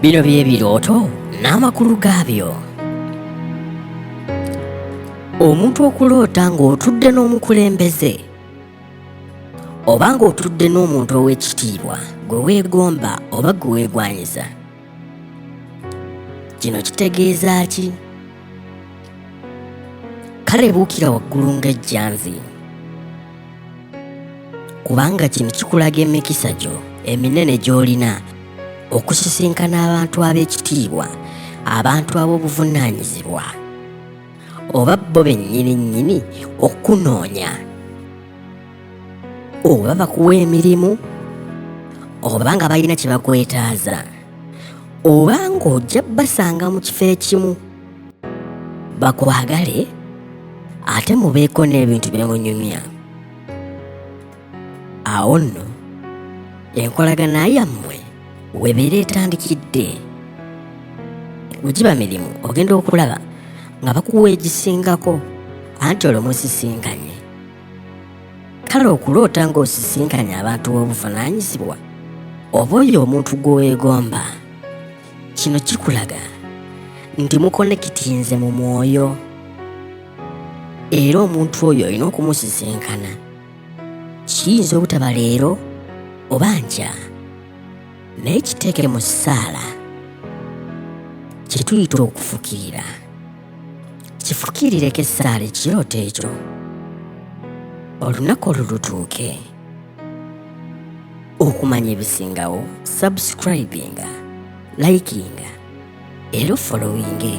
Bino bye birooto n'amakulu gaabyo. Omuntu okuloota ng'otudde n'omukulembeze oba ng'otudde n'omuntu ow'ekitiibwa gwe weegomba oba gwe weegwanyiza. Kino kitegeeza ki? Kale buukira waggulu ng'ejjanzi. kubanga kino kikulaga emikisa gyo eminene gy'olina okusisinkana abantu ab'ekitiibwa abantu ab'obuvunaanyizibwa oba bo bennyini nnyini okukunoonya oba bakuwa emirimu oba nga balina kye bakwetaaza oba ng'ojja basanga mu kifo ekimu bakwagale ate mubeeko n'ebintu byemunyumya awo nno enkolagana yammwe webeera etandikidde wegiba mirimu ogenda okulaba nga bakuwa egisingako anti olwo musisinkanye kale okuloota ng'osisinkanye abantu b'obuvunaanyizibwa oba oyo omuntu gw'oweegomba kino kikulaga nti mukonekitinze mu mwoyo era omuntu oyo olina okumusisinkana kiyinza obutaba leero oba nkya naye kiteeke mu ssaala kyetuyita okufukirira kifukirireko essaala ekirooto ekyo olunaku olwo lutuuke okumanya ebisingawo subscribinga likinga era ofolowinge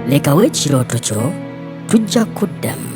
lekawo ekirooto kyo tujja kuddamu